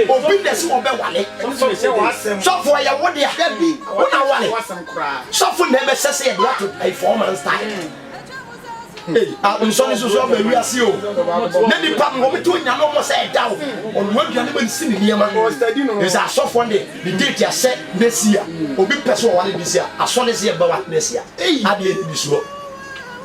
obi na si wɔbɛwale sɔfo ɛyɛ wo dea wona wale sɔfo na ɛbɛsɛ sɛ yɛde ato four months time nsɔre soso aba wiase o na nipa no wɔmete onyame ɔmɔ sɛ ɛda o ɔnoa aduane ma nsi ne nneɛma ɛsɛ asɔfoɔ ne ne date ahyɛ nɛsi a obi pɛ sɛ ɔwale de si a asɔre sɛ yɛbɛwa nɛsi a adeɛ ne bi soɔ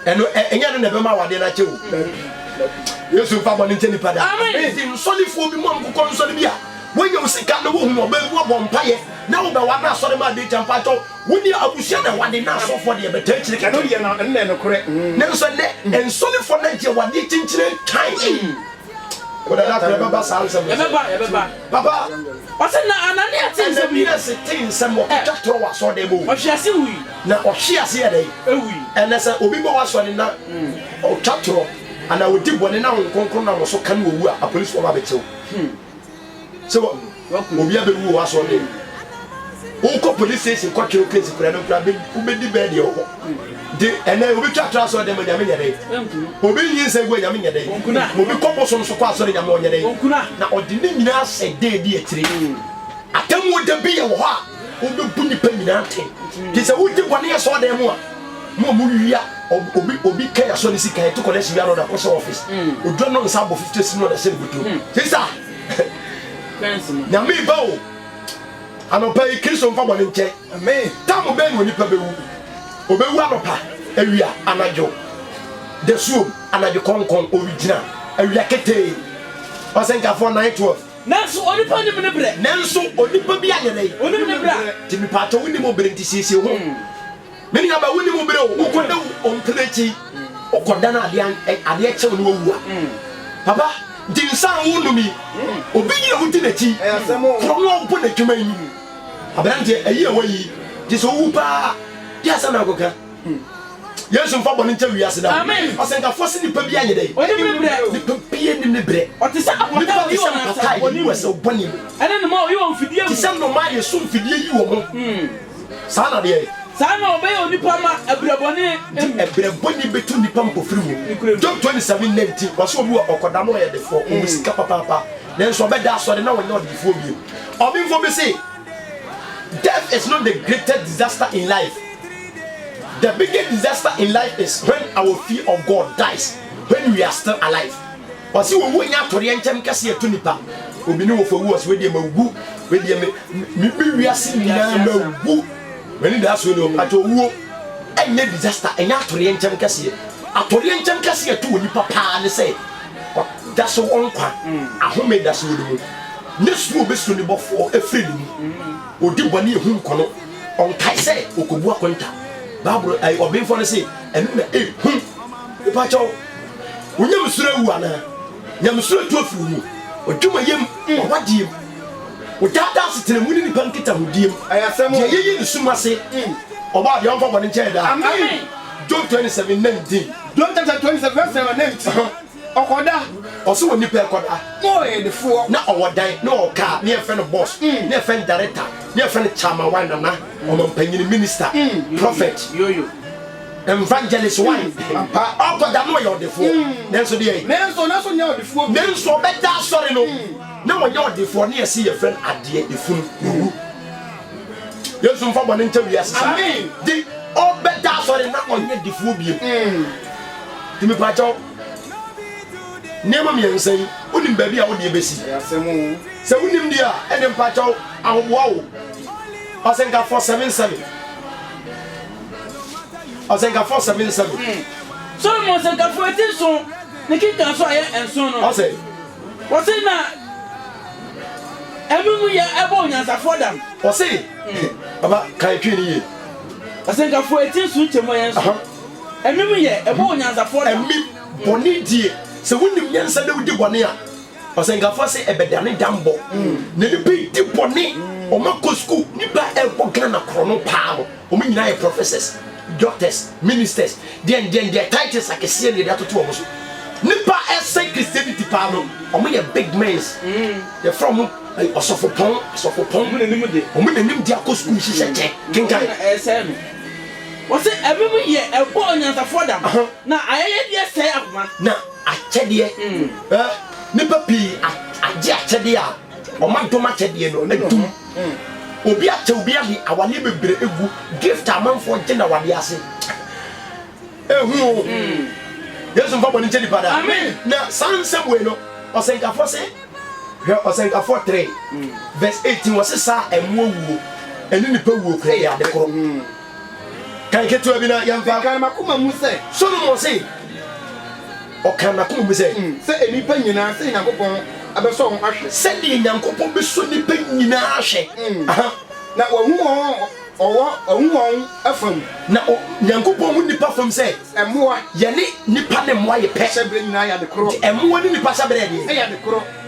ɛno ɛnyɛ no na ɛbɛma awadeɛ no akyɛ o yesu mfa bɔne nkyɛ nipa da nti nsɔlefoɔ bi mu amkokɔ nsɔle bi a wonya wo sika na wohunu ɔbaa bi wabɔ mpayɛ na wobɛwa no asɔre ma adekyɛ mpa kyɛw wo deɛ abusua na ɛwade na asɔfoɔ deɛ bɛtaa kyire kɛkɛ ɛno deɛ na ɛnna ɛnokorɛ mm. nanso ɛnɛ nsɔlefoɔ no agye wadeɛ kyinkyini nkan mm. wodada korɛ bɛba saa nsɛm ɛbɛba ɛbɛba papa ɔsɛ na anania te nsɛm yi ɛnɛ bi na se te nsɛm ɔkɔtwa torɔ wɔ asɔre dɛ mu ɔhwe ase wui na ɔhwe ase yɛ dɛn? Ewui. Ɛnnɛ sɛ obi bɔ w'asɔre na ɔtwa torɔ anaa ɔdi bɔne na Honhom Kronkron nam wo so ka no owu a, apolisifo ba bɛkyɛ wo. Sɛ wa obi a bɛwu wɔ w'asɔre no mu. Wokɔ police station kɔtwe wo case kura no nkura bɛ wobɛdi bɛɛ deɛ wɔ hɔ. Nti ɛnnɛ obi twa torɔ asɔre dɛm a Nyame nyɛ dɛn? Obi nyi nsa gu a Nyame nyɛ dɛn? Obi kɔ bosom so kɔ asɔre Nyame ɔnyɛ dɛn? Na ɔde ne nyinaa hyɛ dɛ di akyire. Atemmuo da bi yɛ wɔ hɔ a. wobɛbu nnipa nyinaa atɛn nti sɛ wogye bɔne yɛ sɔɔ dan mu a mo a mowia obi obi kɛn asɔ ne sika ɛto kɔlɛ si wia no ɔdakɔ sɛ ɔfis hmm. odwa no nsa abɔ 50 si no ɔdasɛ ne bɔtɔ hmm. sisa nyame ba o anɔpa yi kristo mfa bɔne nkyɛ tam bɛn ne onipa bɛwu ɔbɛwu anɔpa awia anadwo dasuom anadwo kɔnkɔn ɔregyina awia ketee ɔsɛnkafoɔ 912 Nanso onipa nim ne berɛ. Nanso onipa bi ayɛdɛn. Onim ne berɛ. Nti mepaakyɛw wonim wo bere nti siesie ho. Me nua ba wonim wo bere o wokɔ da wo mpere akyi wokɔ da na adeɛ adeɛ kyew na wawu a papa nti nsa a wonom yi obi nyina wodi n'akyi korɔ no a wobɔ n'adwuma yi aberanteɛ ayi a wayi gye sɛ wowu paa deɛ asɛm na nkɔka. Hmm. yesu mfa bɔne nkyɛ wiase da ɔsɛnkafoɔ se nipa bi ayɛ dɛ nipa bie nim ne berɛ nipa te sɛ mpataa yi wɔ ɛsɛ wo bɔne mu te sɛ nnoma a yɛso mfidie yi wɔ mo hmm. saa na deɛ saa na ɔbɛyɛ onipa ma ɛbrɛbɔne nti ɛbrɛbɔne bɛtu nnipa mpofiri mu job 27 19 wɔsɛ obi wɔ ɔkɔda no ɔyɛ defoɔ ɔwɔ hmm. sika papaapa nanso ɔbɛda asɔre na wɔnyɛ ɔdefoɔ bio ɔbemfoɔ bi se death is not the greatest disaster in life The biggest disaster in life is when our fear of God dies when we are still alive Ɔse owu nyɛ atodeɛ nkyɛm kɛseɛ ɛto nipa Obi ne wɔfa wu ɔse wedeɛ mawu wedeɛ me me me wiase nyinaa mawu M'ani daa so ni ɔpatɔ owuo ɛnyɛ disaster ɛnyɛ atodeɛ nkyɛm kɛseɛ Atodeɛ nkyɛm kɛseɛ ɛto onipa paa ne sɛ ɔda so wɔ nkwa ahome da so wɔ ne mu Ne suro bɛsuro ne bɔfoɔ ɛfiri ne mu Ɔdi bɔne ɛhu nkɔno Ɔnkae sɛ okobu akonta. Bible ɛɛ ɔbenfoɔ no se ɛno na ɛyɛ hu. Mepakyɛw, wo nyamesuro awu anaa? Nyamesuro atu afiri wo mu. W'adwumayɛ mu, w'awadeɛ mu, wo daadaa asetena mu ne nnipa nkitahodie mu, deɛ yɛyi ne som ase, Ɔbɔadeɛ a ɔmfa bɔne nkyɛ yɛ daa. Amen. Job twenty seven nineteen. Job chapter twenty seven verse number nineteen. Ɔkɔda, ɔsɛ wɔ nipa ɛkɔda, na ɔyɛ yɛdefoɔ, na ɔwɔ dan, na ɔwɔ kaa, na yɛfrɛ no boss, na yɛfrɛ no director, na yɛfrɛ no chairman why nana, ɔmampanyini, minister, prophet, evangelist why, ɔkɔda na ɔyɛ ɔdefoɔ, nanso deɛ ɛn, nanso ɔbɛda asɔre no na ɔnyɛ ɔdefoɔ, na yɛse yɛfrɛ no adeɛ, efunu, wuwu. yesu mfa bɔne nkyɛ wiase saa de ɔbɛda asɔre na ɔnyɛ difoɔ biem mm. nti mepaakyɛw nneɛma mmiɛnsa yi wonim baabi a wodeɛ bɛsi sɛ wonim deɛ a ɛne mpaakyɛw ahoboa wo ɔsɛnkafɔ 77 ɔsɛnkafɔ 77 mm. solomon sɛnkafɔ ɛti nson ne kika nso ayɛ nson no ɔsɛ Wɔse na ɛno mu yɛ ɛbɔ onyansafoɔ dam. Wɔse baba kae twi no yie. Asɛnkafoɔ ɛti nso nkyɛ mu ɛyɛ nso ɛmim yɛ ɛbɔ onyansafoɔ dam. Ɛmim bɔne die sɛ wonim nyansa na wodi bɔne a ɔsɛnkafoɔ se ɛbɛdane dam bɔ na nipa ɛdi bɔne wɔn akɔ sukuu. Nipa ɛbɔ Ghana korɔno paa no. Wɔn nyinaa yɛ professors, doctors, ministers, deɛn deɛn deɛ titles akɛseɛ deɛ de atoto wɔn so. Nipa a ɛsɛn Christianity paa no, wɔn yɛ big mens. Yɛfrɛ wɔn eh, ɔsɔfopɔn, asɔfopɔn. Wɔn nanim de. Wɔn nanim de akɔ sukuu hyehyɛ kyɛ. Kenkan. Na ɛsɛe no. Wɔse ɛmem yɛ ɛbɔ onyansafoɔ dam, Aha. na ayɛyɛdeɛ sɛe akoma. Na akyɛdeɛ, eh, nipa pii a- agye akyɛdeɛ a wɔadom akyɛdeɛ no adum. Obi atɛ obi ade awadeɛ bebree egu gift amanfoɔ gye na wadeɛ ase ehu o Yesu nfa bɔ ne nkyɛn nipa da na saa nsɛm wei no ɔsɛnkafoɔ se hwɛ ɔsɛnkafoɔ three verse eighteen wɔse saa ɛmoa wuo ɛne nipa wuo kura yɛ ade koro. Kan ketewa bi na yɛmfa. Ɛkaa m'akoma mu sɛ. Solomon se, Ɔkaa n'akoma mu sɛ. Sɛ nnipa nyinaa, sɛdeɛ Nyankopɔn bɛsɔ wɔn ahwɛ. Sɛdeɛ Nyankopɔn bɛsɔ nnipa nyinaa ahwɛ. Aha. Na wahu wɔn a wɔwɔ, wahu wɔn fam. Na o, Nyankopɔn hu nnipa fam sɛ. Mmoa. Yɛne nnipa ne mmoa yɛ pɛ. Hyɛberɛ nyinaa yɛ adekorɔ. Enti mmoa ne nnipa hyɛberɛ yɛ deɛn? Ɛyɛ adekorɔ.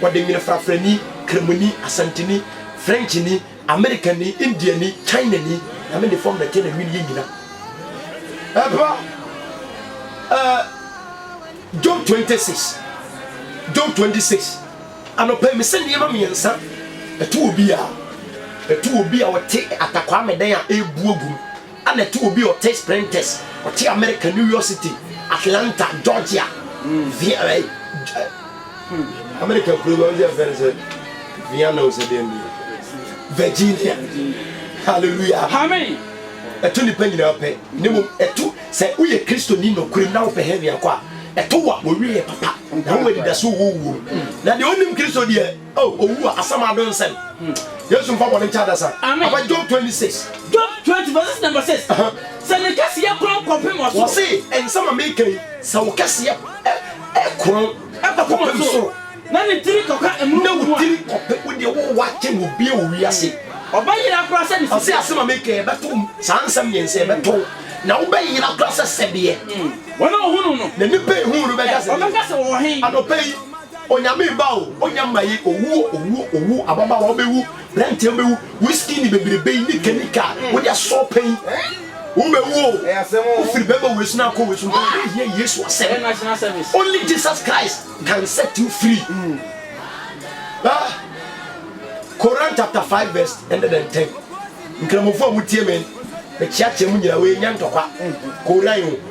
Wɔde nwene frafrani, Kramoni, Asanteni, Frenchni, Amerikani, Indiani, Chinani, Nyame de fɔm na ɛtɛ na nwene yɛ nyina. Ɛpa ɛɛ John 26, John 26, anɔpa mi sɛ nneɛma mmiɛnsa ɛto obi a, ɛto obi a ɔte atakwame dan a ɛrebu agu mu. Ana ɛte obi a ɔte Sprinters, ɔte Amerika, New York City, Atlanta, Georgia, Via, eh, eh, hmm, Amerika nkuro no ɔyɛ fɛn sɛ Vienna o sɛ deɛ deɛ Virginia, hallelujah, amen. Ɛto nipa nyinaa pɛ, ne mu ɛto sɛ woyɛ Kristoni nokorem na wopɛ heaven akɔ a, ɛto wa wɔwie yɛ papa na wɔn anidaso wɔ wuo na deɛ ɔnim Kristo deɛ Oh, owu a asɛm ado nsɛn. Yesu nfa bɔne nkyɛ adasa. Amen. Aba Job twenty six. Job twenty verse number six. Sɛ ne kɛseyɛ korɔn kɔpem ɔsoro. Wɔsi nsɛm a meka yi sɛ wo kɛseyɛ ɛkorɔn ɛkɔpem soro. Na ne tiri kɔka ɛmununkum mu a. Na wo tiri kɔpem wo deɛ wo wa kyɛn obia wɔ wiase. Ɔbɛ yera koraa sɛ ne sisi. Ɔsi asɛm a meka yi ɛbɛto saa nsɛm mmiɛnsa ɛbɛto na wo bɛ yera koraa sɛ sɛdeɛ. Wɔn a ohunu no. Na nipa ehunu no bɛka sɛ. Ɔbɛka sɛ wɔwɔ hen. Anɔpɛ yi. Onyame ba o, ɔnya mmaye, owuo, owuo, owuo, ababaawa wobɛwu, branteɛ wobɛwu, whisky ne bebrebe yi, nika, nika a wode asɔ pɛ yi, wobɛwu o, wofiri bɛma wei so na akɔ wei so, nka wode hia Yesu asɛm, only Jesus Christ can set you free. Ah, Koran chapter five verse hundred and ten, Nkramofo a motie me, mekyeakyea mo nyina, wei nyɛ ntɔkwa, Koran o.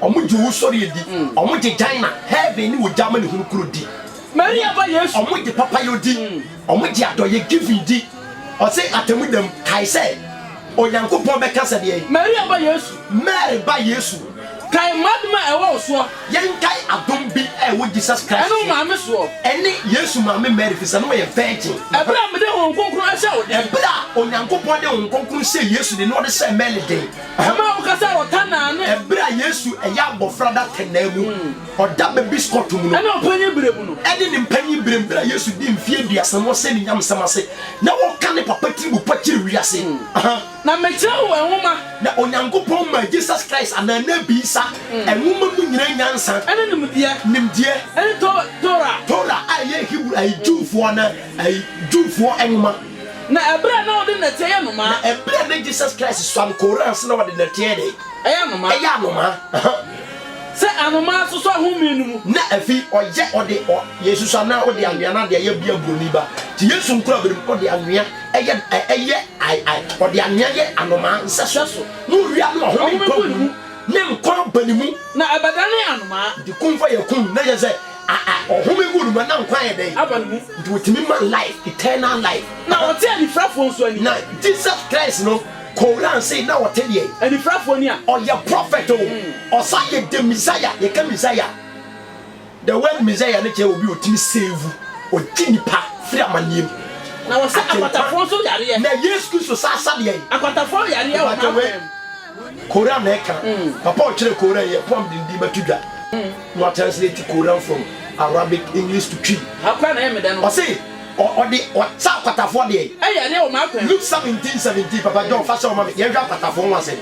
Wɔgye owusɔreɛ di. Wɔgye Gyna, Heaven ne Ogya Amanehunu Kuro di. Maria Ba Yesu. Wɔgye papayɔ di. Wɔgye adɔeɛ, giving, di. Ɔse atemmuda mu, kae sɛ, Onyankopɔn bɛka sɛ deɛn? Maria Ba Yesu. Mary Ba Yesu. Kae m'adom a ɛwɔ wo soɔ. Yɛnkae adom bi a ɛwɔ Jesus Christ soɔ. Ɛne wo maame soɔ. Ɛne Yesu maame Mary firi sɛ na ɔyɛ virgin. Ɛberɛ a mede Honhom Kronkron hyɛɛ wo den. Ɛberɛ a Onyankopɔn de Honhom Kronkron hyɛɛ Yesu den na ɔde hyɛɛ Mary den. Hɛmɔ a woka sɛ ɔta naa ne. Ɛberɛ a Yesu ɛyɛ abɔfra da tɛ naa mu, ɔda babies kɔto mu no. Ɛne ɔpanyin berɛ mu no. Ɛne ne mpanyin berɛ mu, berɛ a Yesu dii mfeɛ aduasa mu ɔsɛ ne nyamesɛm ase na ɔka ne Papa tiribu pa kyere wiase. Na mekyerɛ wo nwoma. Na Onyankopɔn maa Jesus Christ anaa Nabi Isa nwoma mu nyinaa nyansa. Ɛne nimdeɛ. Nimdeɛ. Ɛne Tor, Torah. Torah a ɛyɛ Hebrew, ayi, Jewfoɔ anaa, ayi, Jewfoɔ nwoma. Na ɛberɛ a na ɔde nnɛteɛ yɛ nnomaa. Na ɛberɛ a na Jesus Christ suam kooraa ase na ɔde nnɛteɛ yɛ dɛn? Ɛyɛ anomaa. Ɛyɛ anomaa, ahaa. Sɛ anomaa so so ahome no mu. Na afei ɔyɛ ɔde ɔ, Yesus anaa ɔde anwea no adeɛ yɛ bia buroni ba. Nti Yesu nkura berɛ mu ɔde anwea ɛyɛ, ɛ, ɛyɛ, ai, ai, ɔde anwea yɛ anomaa nsɛso. Sɛso. Na owia no ahome Ahome gu gu ne mu. ne nkwa ba ne mu. Na ɛbɛdane anomaa. Nti kumfɔ yɛ kum, na yɛ sɛ. A a ɔhome gu no ma na nkwa yɛ dɛn? Aba ne mu. Nti wotumi ma life, eternal life. Na ɔte anifirafoɔ nso ani. Na Jesus Christ no Koran se na ɔte deɛn? Anifirafoɔ ani a. Ɔyɛ prophet o, ɔsan yɛ the Messiah, yɛka Messiah the word Messiah no kyerɛ obi a ɔtumi save, ɔgye nnipa firi amaneɛ mu. Na ɔsa akwatafoɔ nso yareɛ. Na Yesu Kristo san sa deɛn? Akwatafoɔ yareɛ wɔ N'akwan mu. Koran na ɛka. Papa a ɔkyerɛɛ Koran yɛ poem de ndin bɛto dwa na watranslate Koran from Arabic, English to Twi. Ɔse ɔde ɔkyɛ akwatafoɔ deɛ. Luke seventeen seventeen Papa John fa hyɛ wo ma me, yɛnhwɛ akwatafoɔ ho asɛm.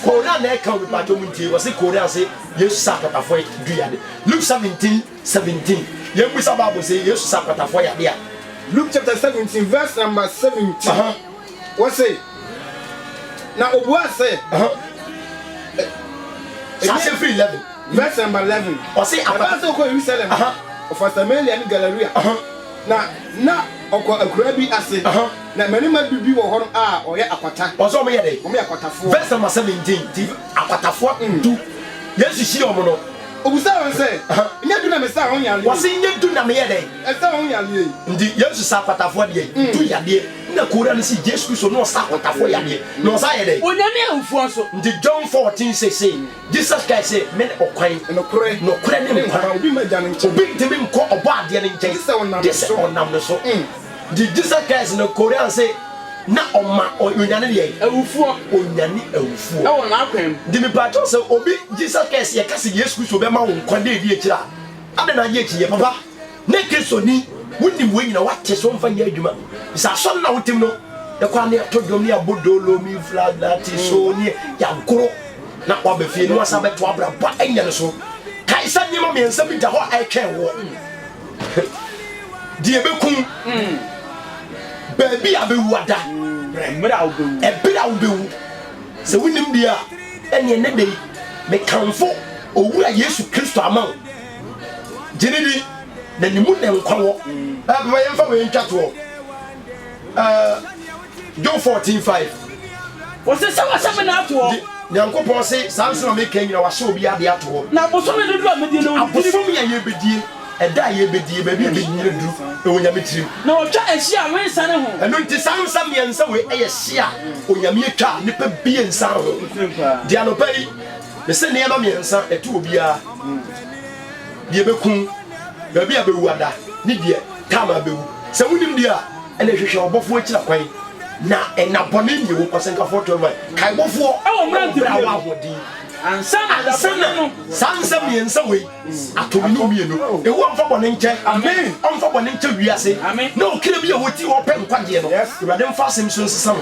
Koran na ɛka o mepaakyɛw montie. Ɔse Koran se Yesu saa akwatafoɔ dui yadeɛ. Luke seventeen seventeen Yɛnbisa Bible se Yesu saa akwatafoɔ yadeɛ a. Luke chapter seventeen verse number seventeen. Wo se, na obuaa sɛ. Hyɛase firi eleven. Verse number eleven. Ɔse apa. Ɛbaa sɛ ɔkɔ Yerusalem. Ɔfa Samaria ne Galaria. Na na ɔkɔ akuraa bi ase. Na mmarima du bi wɔ hɔ a wɔyɛ akwata. Ɔse wɔn yɛ dɛ. Wɔn yɛ akwatafoɔ. Verse number seventeen. Nti akwatafoɔ du. Yesu hyia wɔn no. Obusaa wɔn sɛ. Nyɛ du na mesaa wɔn yadeɛ yi. Wɔse nyɛ du na meyɛ dɛ. Ɛsaa wɔn yadeɛ yi. Nti Yesu saa akwatafoɔ deɛ. Du yadeɛ. Nna Kora no sii Jesu Kristo na ɔsa ahotafo yadeɛ, na ɔsan yɛ dɛn? Onyame awufoɔ so. Nti John fourteen six se, Jesus kae se, Mene ɔkwan, nokorɛ ne nkwa, obi ntumi nkɔ Ɔbɔadeɛ no nkyɛn gye se ɔnam ne so. Nti Jesus Christ no Koran se na ɔma Onyane deɛn? Awufoɔ. Onyane awufoɔ. Wɔ n'akwan mu. Nti mepaakyɛw se obi Jesus Christ yɛka se Yesu Kristo bɛma wo nkwa da edi akyire a, adɛn na agye akyinnyeɛ? Papa. ne Kristoni, wonim wei nyina woate so mfa nyɛ adwuma sɛ asɔre na wotim no ɛkɔ ane ato dwom ne abɔ dolo mi fla na te so ne yɛagoro na waba fie no asa bɛto abrabɔ anya no so kae sɛ nneɛma mmiɛnsa bi da hɔ a ɛtwɛn woɔ deɛ bɛkum baabi a bɛwu ada ɛberɛ a wobɛwu sɛ wonim deɛ a ɛneɛ ne dei mekamfo owura yesu kristo ama wo gyene bi na ne mu na nkwa wɔ ɛbɛma yɛmfa wei ntwa toɔ John 14 5 wɔse sɛ wɔhyɛ me na atoɔ nyankopɔn se saa nsɛm a meka nyina wahyɛ obi ade atoɔ na abosome dodo a mɛdie no abosome a yɛbɛdie ɛda a yɛbɛdie baabi a bɛnyina duru ɛwɔ nyame tirim na ɔtwa ɛhye a wensa ne ho ɛno nti saa nsa mmiɛnsa wei ɛyɛ hye a onyame atwa nipa bie nsa ho deɛ anɔpa yi Me se nneɛma mmiɛnsa ɛto obiara, deɛ bɛkum, baabi a bɛwu ada, ne deɛ time a bɛwu. Sɛ wonim deɛ a, ɛnneɛ hwehwɛ ɔbɔfoɔ akyira kwan, na nna bɔne mmie wo. Ɔsɛnkafoɔ 21. Kae bɔfoɔ wɔ mmerante a wɔahoɔden ansa na saa nsɛm mmiɛnsa wei ato me ne wo mmienu. Yehowa mfa bɔne nkyɛ. Ɔmfa bɔne nkyɛ wiase ne ɔkra bi a ɔti hɔ repɛ nkwagyeɛ no. Awurade mfa asɛm yi so nsesa no.